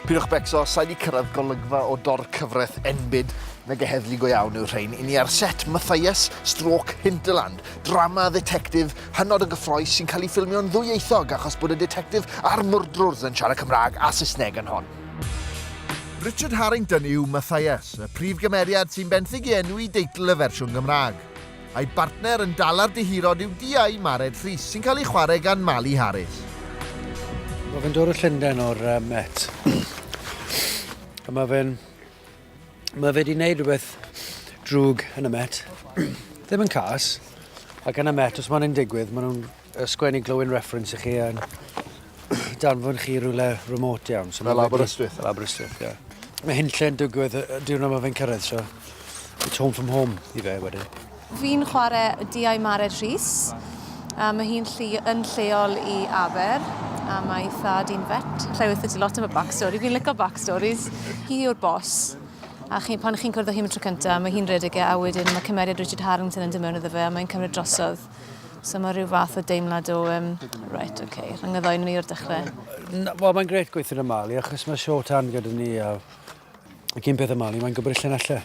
Pidwch becso, sa'i di cyrraedd golygfa o dor cyfraith enbyd nag y heddlu go iawn yw'r rhain. I ni ar set Matthias, Stroke, Hinterland, drama ddetectif hynod o gyffroes sy'n cael ei ffilmio'n ddwyieithog achos bod y detectif a'r mwrdrwrs yn siarad Cymraeg a Saesneg yn hon. Richard Harrington yw Matthias, y prif gymeriad sy'n benthyg i enw i deitl y fersiwn Gymraeg. A'i bartner yn dala'r dihirod yw Diau Mared Rhys, sy'n cael ei chwarae gan Mali Harris. Mae fe'n dod o Llundain o'r uh, Met. A mae fe'n... Mae fe wedi gwneud rhywbeth drwg yn y Met. Ddim yn cas. Ac yn y Met, os mae'n un digwydd, maen nhw'n sgwennu glowing reference i chi yn danfon chi rhywle remote iawn. So Fel Aberystwyth? Fel Aberystwyth, ie. Yeah. Mae hyn lle'n digwydd y diwrnod mae fe'n cyrraedd, so it's home from home i fe wedyn. Fi'n chwarae Diau Mared Rhys. A mae hi'n lli, yn lleol i Aber, a mae thad i'n vet. Lle weithio ti lot am y backstory. Fi'n licio backstories. Hi yw'r bos. A chi, pan chi'n cwrdd â hi am y tro cyntaf, mae hi'n redeg e, a wedyn mae cymeriad Richard Harrington yn dod mewn iddo fe, a mae'n cymryd drosodd. So mae rhyw fath o deimlad o, um, right, ok, rhyngyddo yn mi o'r dechrau. Wel, mae'n gret gweithio yn y Mali, achos mae short hand gyda ni, a y cyn peth y Mali, mae'n gwybod lle'n allu.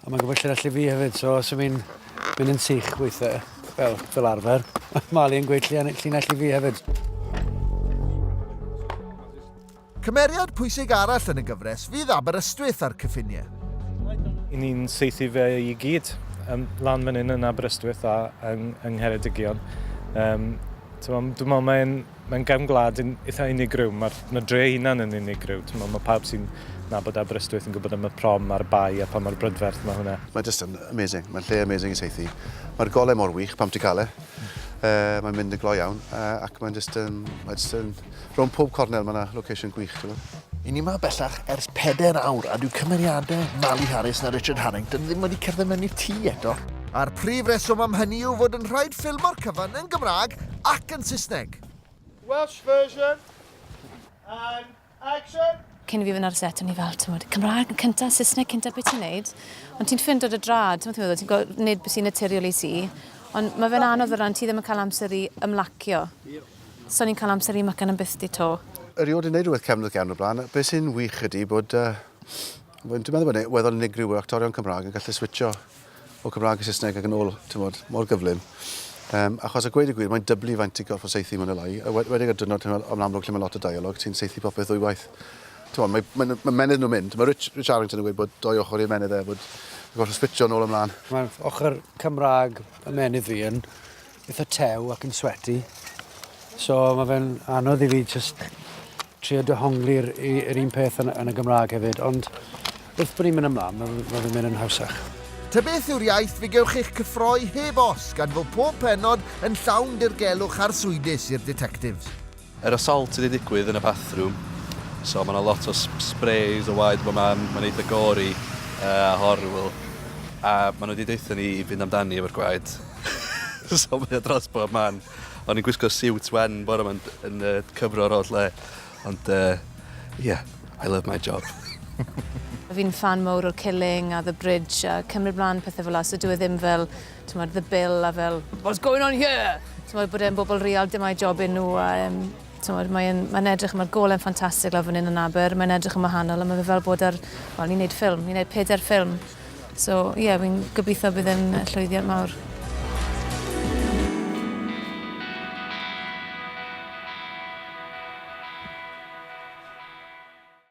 A mae'n gwybod lle'n allu fi hefyd, so os yw'n mynd, mynd yn sych gweithio, fel, fel arfer, mae Mali yn gweud lle'n allu fi hefyd. Cymeriad pwysig arall yn y gyfres fydd Aberystwyth a'r cyffiniau. I ni'n saethu fe i gyd yn lan fan hyn yn Aberystwyth a yng, yng Ngheredigion. Um, Dwi'n meddwl mae'n mae gefn gwlad yn eitha unigryw, mae'r ma dre hunan yn unigryw. Dwi'n meddwl mae pawb sy'n nabod Aberystwyth yn gwybod am y prom a'r bai a pa mor brydferth mae hwnna. Mae just yn amazing, mae'n lle amazing i saethu. Mae'r golau mor wych pam ti'n cael e. Uh, mae'n mynd yn gloi iawn uh, ac mae'n just yn, mae just yn Rownd pob cornel mae yna location gwych, ti'n gwybod? I ni ma bellach ers peder awr a dyw cymeriadau Mali Harris na Richard Harrington ddim wedi cerdded mewn i'r tŷ eto. A'r prif reswm am hynny yw fod yn rhaid ffilmo'r cyfan yn Gymraeg ac yn Saesneg. Welsh version and action! Cyn i fi fynd ar y set, o'n i fel, ti'n bod, Cymraeg yn cyntaf, Saesneg cyntaf, beth ti'n neud? Ond ti'n ffind o'r drad, ti'n meddwl, ti'n gwybod, nid sy'n naturiol i ti. Ond mae fe'n anodd o ran, ti ddim yn cael amser i ymlacio. So ni'n cael amser i Mycan yn bythdi 'to. Erioed yn neud rhywbeth cefnwrth iawn o blaen. Be sy'n wych ydy bod yy dwi'n meddwl bod e'n weddol unigryw bod actorion Cymraeg yn gallu switcho o Cymraeg i Saesneg ac yn ôl, ti'n bod, mor gyflym. Um, achos a gweud y gwir, mae'n dyblu faint i gorff o seithi mae'n olai. Wedig ar dynod yn amlwg lle mae lot o dialog, ti'n seithi popeth ddwy waith. Ti'n bod, mae, mae, mae menydd nhw'n mynd. Mae Rich, Rich Arrington yn gweud bod doi ochr i'r menydd e, bod gorff o switcho yn ôl ymlaen. Mae'n ochr Cymraeg y menydd fi yn itha tew ac yn sweti. So mae fe'n anodd i fi just trio dyhongli'r yr un peth yn, yn y Gymraeg hefyd, ond wrth bod ni'n mynd ymlaen, mae, mae fe'n mynd yn hawsach. Tybeth yw'r iaith fe gewch eich cyffroi heb os gan fod pob pennod yn llawn dirgelwch arswydus i'r Detectives. Yr assault wedi digwydd yn y bathroom so ma' 'na lot o sp- sprays o waed bob man mae'n eitha gory a horrible a ma' n'w 'di deutho ni i fynd amdani efo'r gwaed so mae o dros bob man o'n i'n gwisgo siwt wen bore 'ma yn d- yn yy cyfro'r holl le ond yy ie I love my job. Fi'n ffan mowr o'r Killing a The Bridge a cymryd mlan pethe fela so dyw e ddim fel t'mod the bill a fel what's going on here? T'mod bod e'n bobl real dyma'i job e nhw a yym t'mod mae e'n mae'n edrych mae'r gole'n ffantastig lawr fan hyn yn Aber mae'n edrych yn wahanol a mae fe fel bod ar wel ni'n neud ffilm ni'n neud pedair ffilm so ie yeah, fi'n gobeithio bydd e'n yy, llwyddiant mawr.